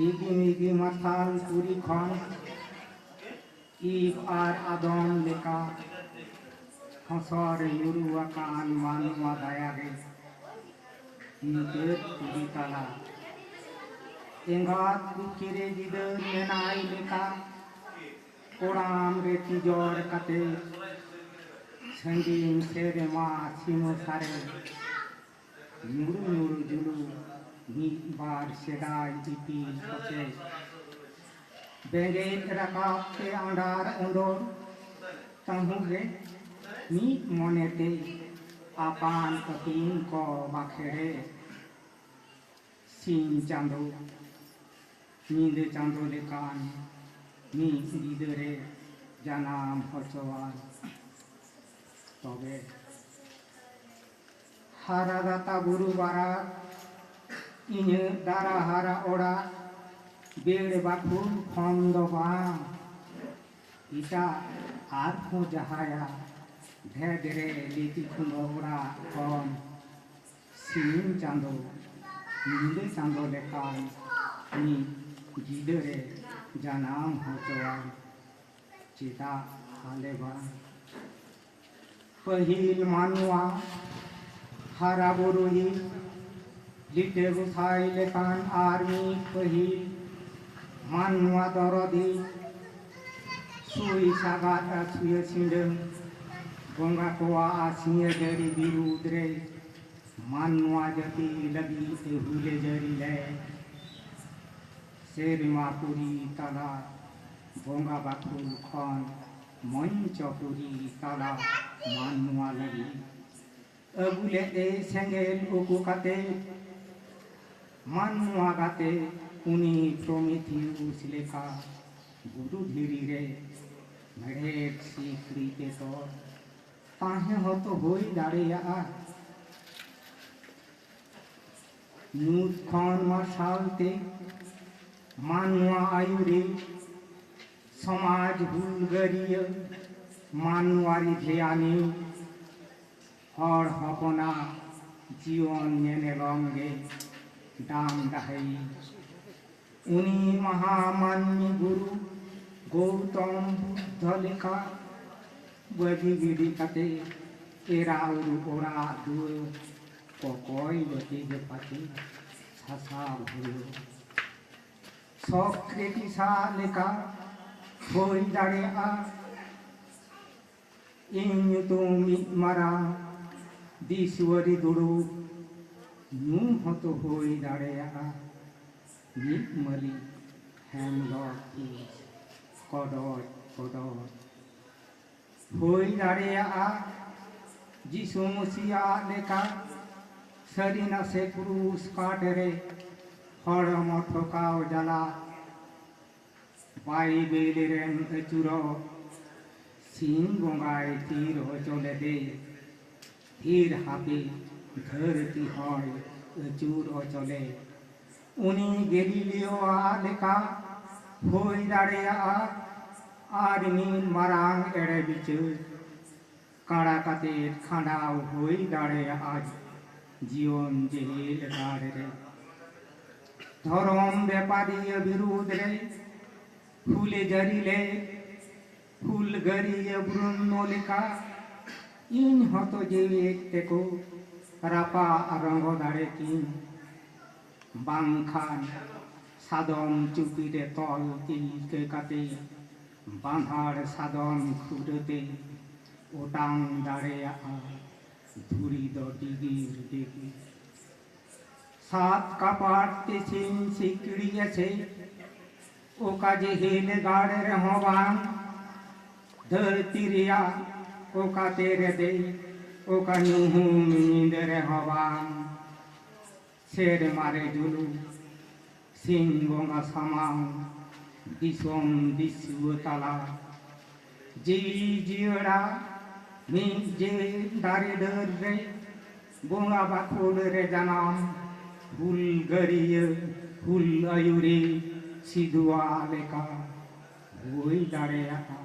ᱤᱜᱤ ᱢᱤᱜᱤ ᱢᱟᱨᱥᱟᱞ ᱯᱩᱨᱤ ᱠᱷᱚᱱ ᱤᱵ ᱟᱨ ᱟᱫᱚᱢ ᱞᱮᱠᱟ ᱠᱷᱚᱥᱚᱨ ᱧᱩᱨᱩ ᱟᱠᱟᱱ ᱢᱟᱱᱣᱟ ᱫᱟᱭᱟ ᱜᱮ ᱧᱩᱛᱟᱹᱛ ᱯᱩᱨᱤ ᱛᱟᱞᱟ ᱮᱸᱜᱟᱛ ᱠᱩᱠᱷᱤ ᱨᱮ ᱜᱤᱫᱟᱹᱨ ᱢᱮᱱᱟᱭ ᱞᱮᱠᱟ ᱠᱚᱲᱟᱢ ᱨᱮ ᱛᱤᱡᱚᱲ ᱠᱟᱛᱮ ᱥᱟᱺᱜᱤᱧ ᱥᱮᱨᱢᱟ ᱥᱤᱢᱟᱹ ᱥᱟᱨᱮ ᱧᱩᱨᱩ ᱧᱩᱨᱩ ᱡᱩᱞᱩ ᱢᱤᱫ ᱵᱟᱨ ᱥᱮᱫᱟᱭ ᱤᱯᱤᱞ ᱠᱚᱪᱮ ᱵᱮᱸᱜᱮᱫ ᱨᱟᱠᱟᱵ ᱛᱮ ᱟᱸᱰᱟᱨ ᱚᱸᱰᱚᱨ ᱛᱟᱹᱦᱩ ᱜᱮ ᱢᱤᱫ ᱢᱚᱱᱮ ᱛᱮ ᱟᱯᱟᱱ ᱟᱹᱯᱤᱱ ᱠᱚ ᱵᱟᱠᱷᱮᱲᱮ ᱥᱤᱧ ᱪᱟᱸᱫᱚ ᱧᱤᱫᱟᱹ ᱪᱟᱸᱫᱚ ᱞᱮᱠᱟᱱ ᱢᱤᱫ ᱜᱤᱫᱟᱹᱨᱮ ᱡᱟᱱᱟᱢ ᱦᱚᱪᱚᱣᱟᱱ ᱛᱚᱵᱮ ᱦᱟᱨᱟ ᱫᱟᱛᱟ ᱵᱩᱨᱩ ᱵᱟᱨᱟᱫᱽ ᱤᱧᱟᱹᱜ ᱫᱟᱨᱟ ᱦᱟᱨᱟ ᱚᱲᱟᱜ ᱵᱮᱲ ᱵᱟᱹᱠᱷᱩᱞ ᱠᱷᱚᱱ ᱫᱚ ᱵᱟᱝ ᱮᱴᱟᱜ ᱟᱨ ᱦᱚᱸ ᱡᱟᱦᱟᱸᱭᱟᱜ ᱵᱷᱮᱫᱽ ᱨᱮ ᱞᱤᱛᱤ ᱠᱷᱩᱢᱵᱟᱹ ᱚᱲᱟᱜ ᱠᱷᱚᱱ ᱥᱤᱧ ᱪᱟᱸᱫᱚ ᱧᱤᱫᱟᱹ ᱪᱟᱸᱫᱚ ᱞᱮᱠᱟᱱ ᱢᱤᱫ ᱜᱤᱫᱟᱹᱨ ᱮ ᱡᱟᱱᱟᱢ ᱦᱚᱪᱚᱣᱟᱭ ᱪᱮᱫᱟᱜ ᱟᱞᱮ ᱵᱟᱝ ᱯᱟᱹᱦᱤᱞ ᱢᱟᱱᱣᱟ ᱦᱟᱨᱟ ᱵᱩᱨᱩᱭᱤᱡ ᱞᱤᱴᱟᱹ ᱜᱚᱸᱥᱟᱭ ᱞᱮᱠᱟᱱ ᱟᱨ ᱢᱤᱫ ᱯᱟᱹᱦᱤᱞ ᱢᱟᱱᱣᱟ ᱫᱚᱨᱚᱫᱤᱡ ᱥᱩᱭ ᱥᱟᱜᱟᱫ ᱟᱨ ᱥᱩᱭᱟᱹ ᱥᱤᱸᱰᱟᱹᱝ ᱵᱚᱸᱜᱟ ᱠᱚᱣᱟᱜ ᱟᱨ ᱥᱤᱧᱮ ᱡᱟᱹᱨᱤ ᱵᱤᱨᱩᱫᱽ ᱨᱮ ᱢᱟᱱᱣᱟ ᱡᱟᱹᱛᱤ ᱞᱟᱹᱜᱤᱫ ᱮ ᱦᱩᱞᱮ ᱡᱟᱹᱨᱤ ᱞᱮᱫ ᱥᱮᱨᱢᱟ ᱯᱩᱨᱤ ᱛᱟᱞᱟ ᱵᱚᱸᱜᱟ ᱵᱟᱠᱷᱳᱞ ᱠᱷᱚᱱ ᱢᱚᱧᱪᱚ ᱯᱩᱨᱤ ᱛᱟᱞᱟ ᱢᱟᱱᱣᱟ ᱞᱟᱹᱜᱤᱫ ᱟᱹᱜᱩ ᱞᱮᱫᱮ ᱥᱮᱸᱜᱮᱞ ᱩᱠᱩ ᱠᱟᱛᱮ ᱢᱟᱱᱣᱟ ᱜᱟᱛᱮ ᱩᱱᱤ ᱯᱨᱚᱢᱤᱛᱷᱤᱭᱩᱥ ᱞᱮᱠᱟ ᱜᱩᱨᱩ ᱫᱷᱤᱨᱤ ᱨᱮ ᱢᱮᱲᱦᱮᱫ ᱥᱤᱠᱲᱤ ᱛᱮ ᱛᱚᱞ ᱛᱟᱦᱮᱸ ᱦᱚᱛᱚ ᱦᱩᱭ ᱫᱟᱲᱮᱭᱟᱜᱼᱟ ᱧᱩᱛ ᱠᱷᱚᱱ ᱢᱟᱨᱥᱟᱞ ᱛᱮ ᱢᱟᱱᱣᱟ ᱟᱭᱩᱨᱤ ᱥᱚᱢᱟᱡᱽ ᱦᱩᱞᱜᱟᱹᱨᱤᱭᱟᱹ ᱢᱟᱱᱣᱟᱨᱤ ᱫᱷᱮᱭᱟᱱᱤᱡ ᱦᱚᱲ ᱦᱚᱯᱚᱱᱟᱜ ᱡᱤᱭᱚᱱ ᱧᱮᱱᱮᱞᱚᱢ ᱜᱮ ᱰᱟᱢ ᱰᱟᱹᱦᱤ᱾ ᱩᱱᱤ ᱢᱟᱦᱟ ᱢᱟᱹᱱᱢᱤ ᱜᱩᱨᱩ ᱜᱚᱣᱛᱚᱢ ᱵᱩᱫᱫᱷᱚ ᱞᱮᱠᱟ ᱵᱟᱹᱜᱤ ᱜᱤᱰᱤ ᱠᱟᱛᱮ ᱮᱨᱟ ᱩᱨᱩ ᱚᱲᱟᱜ ᱫᱩᱣᱟᱹᱨ ᱠᱚᱠᱚᱭ ᱡᱟᱹᱛᱤ ᱡᱟᱹᱯᱟᱹᱛᱤ ᱥᱟᱥᱟᱵ ᱦᱩᱭᱩᱜ᱾ ᱥᱚᱠᱨᱮᱴᱤᱥ ᱟᱜ ᱞᱮᱠᱟ ᱦᱩᱭ ᱫᱟᱲᱮᱭᱟᱜᱼᱟ᱾ ᱤᱧ ᱧᱩᱛᱩᱢ ᱢᱤᱫ ᱢᱟᱨᱟᱝ ᱫᱤᱥᱣᱟᱹᱨᱤ ᱫᱩᱲᱩᱵ ᱧᱩ ᱦᱚᱸᱛᱚ ᱦᱩᱭ ᱫᱟᱲᱮᱭᱟᱜᱼᱟ᱾ ᱢᱤᱫ ᱢᱟᱹᱞᱤᱠ ᱦᱮᱢ ᱰᱚᱜᱽ ᱯᱷᱤᱥ ᱠᱚᱰᱚᱡ ᱠᱚᱰᱚᱡ ᱦᱩᱭ ᱫᱟᱲᱮᱭᱟᱜᱼᱟ ᱡᱤᱥᱩ ᱢᱚᱥᱤ ᱟᱜ ᱞᱮᱠᱟ ᱥᱟᱹᱨᱤ ᱱᱟᱥᱮ ᱠᱨᱩᱥ ᱠᱟᱴ ᱨᱮ ᱦᱚᱲᱢᱚ ᱴᱷᱚᱠᱟᱣ ᱡᱟᱞᱟ ᱵᱟᱭᱵᱮᱞ ᱨᱮᱱ ᱟᱹᱪᱩᱨᱚᱜ ᱥᱤᱧ ᱵᱚᱸᱜᱟᱭ ᱛᱷᱤᱨ ᱦᱚᱪᱚ ᱞᱮᱫᱮ ᱛᱷᱤᱨ ᱦᱟᱯᱮ ᱫᱷᱟᱹᱨᱛᱤ ᱦᱚᱸᱭ ᱟᱹᱪᱩᱨ ᱚᱪᱚᱞᱮ ᱩᱱᱤ ᱜᱮᱞᱤᱞᱤᱭᱳ ᱟᱜ ᱞᱮᱠᱟ ᱦᱩᱭ ᱫᱟᱲᱮᱭᱟᱜᱼᱟ ᱟᱨ ᱢᱤᱫ ᱢᱟᱨᱟᱝ ᱮᱲᱮ ᱵᱤᱪᱟᱹᱨ ᱠᱟᱬᱟ ᱠᱟᱛᱮ ᱠᱷᱟᱸᱰᱟᱣ ᱦᱩᱭ ᱫᱟᱲᱮᱭᱟᱜᱼᱟ ᱡᱤᱭᱚᱱ ᱡᱮᱦᱮᱞ ᱜᱟᱲ ᱨᱮ ᱫᱷᱚᱨᱚᱢ ᱵᱮᱯᱟᱨᱤᱭᱟᱹ ᱵᱤᱨᱩᱫᱷ ᱨᱮ ᱦᱩᱞᱮ ᱡᱟᱹᱨᱤ ᱞᱮᱫ ᱦᱩᱞᱜᱟᱹᱨᱤᱭᱟᱹ ᱵᱨᱩᱱᱱᱳ ᱞᱮᱠᱟ ᱤᱧ ᱦᱚᱸᱛᱚ ᱡᱤᱣᱤ ᱮᱡ ᱛᱮᱠᱚ ᱨᱟᱯᱟᱜ ᱨᱚᱸᱜᱚ ᱫᱟᱲᱮ ᱠᱤᱧ ᱵᱟᱝᱠᱷᱟᱱ ᱥᱟᱫᱚᱢ ᱪᱩᱯᱤ ᱨᱮ ᱛᱚᱞ ᱛᱤᱞᱠᱟᱹ ᱠᱟᱛᱮ ᱵᱟᱸᱫᱷᱟᱲ ᱥᱟᱫᱚᱢ ᱠᱷᱩᱨᱟᱹ ᱛᱮ ᱚᱴᱟᱝ ᱫᱟᱲᱮᱭᱟᱜᱼᱟ ᱫᱷᱩᱲᱤ ᱫᱚ ᱰᱤᱜᱤᱨ ᱰᱤᱜᱤᱨ ᱥᱟᱛ ᱠᱟᱯᱟᱴ ᱛᱤᱥᱤᱧ ᱥᱤᱠᱲᱤ ᱮᱥᱮᱫ ᱚᱠᱟ ᱡᱤᱦᱤᱞ ᱜᱟᱲ ᱨᱮᱦᱚᱸ ᱵᱟᱝ ᱫᱷᱟᱹᱨᱛᱤ ᱨᱮᱭᱟᱜ ᱚᱠᱟ ᱛᱮ ᱨᱮ ᱫᱮᱡ ᱚᱠᱟ ᱧᱩᱦᱩᱢ ᱧᱤᱫᱟᱹ ᱨᱮᱦᱚᱸ ᱵᱟᱝ ᱥᱮᱨᱢᱟ ᱨᱮ ᱡᱩᱞᱩᱜ ᱥᱤᱧ ᱵᱚᱸᱜᱟ ᱥᱟᱢᱟᱝ ᱫᱤᱥᱚᱢ ᱫᱤᱥᱩᱣᱟᱹ ᱛᱟᱞᱟ ᱡᱤᱣᱤ ᱡᱤᱭᱟᱹᱲᱟ ᱢᱤᱫ ᱡᱮ ᱫᱟᱨᱮ ᱰᱟᱹᱨ ᱨᱮ ᱵᱚᱸᱜᱟ ᱵᱟᱠᱷᱳᱞ ᱨᱮ ᱡᱟᱱᱟᱢ ᱦᱩᱞ ᱜᱟᱹᱨᱤᱭᱟᱹ ᱦᱩᱞ ᱟᱹᱭᱩᱨᱤ ᱥᱤᱫᱩᱣᱟᱜ ᱞᱮᱠᱟ ᱦᱩᱭ ᱫᱟᱲᱮᱭᱟᱜᱼᱟ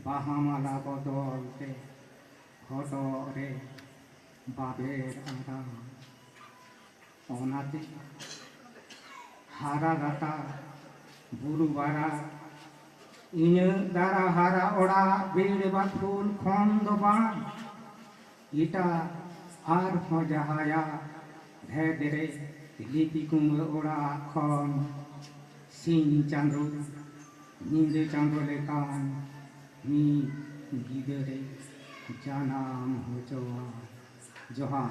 ᱵᱟᱦᱟ ᱢᱟᱞᱟ ᱵᱚᱫᱚᱞ ᱛᱮ ᱦᱚᱴᱚᱜ ᱨᱮ ᱵᱟᱵᱮᱨ ᱟᱨᱟᱝ᱾ ᱚᱱᱟᱛᱮ ᱦᱟᱨᱟ ᱜᱟᱛᱟ ᱵᱩᱨᱩ ᱵᱟᱨᱟ ᱤᱧᱟᱹᱜ ᱫᱟᱨᱟ ᱦᱟᱨᱟ ᱚᱲᱟᱜ ᱵᱤᱲ ᱵᱟᱠᱷᱩᱞ ᱠᱷᱚᱱ ᱫᱚ ᱵᱟᱝ ᱮᱴᱟᱜ ᱟᱨᱦᱚᱸ ᱡᱟᱦᱟᱸᱭᱟᱜ ᱵᱷᱮᱫᱽ ᱨᱮ ᱞᱤᱯᱤ ᱠᱩᱢᱵᱟᱹ ᱚᱲᱟᱜ ᱠᱷᱚᱱ ᱥᱤᱧ ᱪᱟᱸᱫᱚ ᱧᱤᱫᱟᱹ ᱪᱟᱸᱫᱚ ᱞᱮᱠᱟᱱ ᱢᱤᱫ ᱜᱤᱫᱟᱹᱨᱮ ᱡᱟᱱᱟᱢ ᱦᱚᱪᱚᱣᱟᱭ ᱡᱚᱦᱟᱨ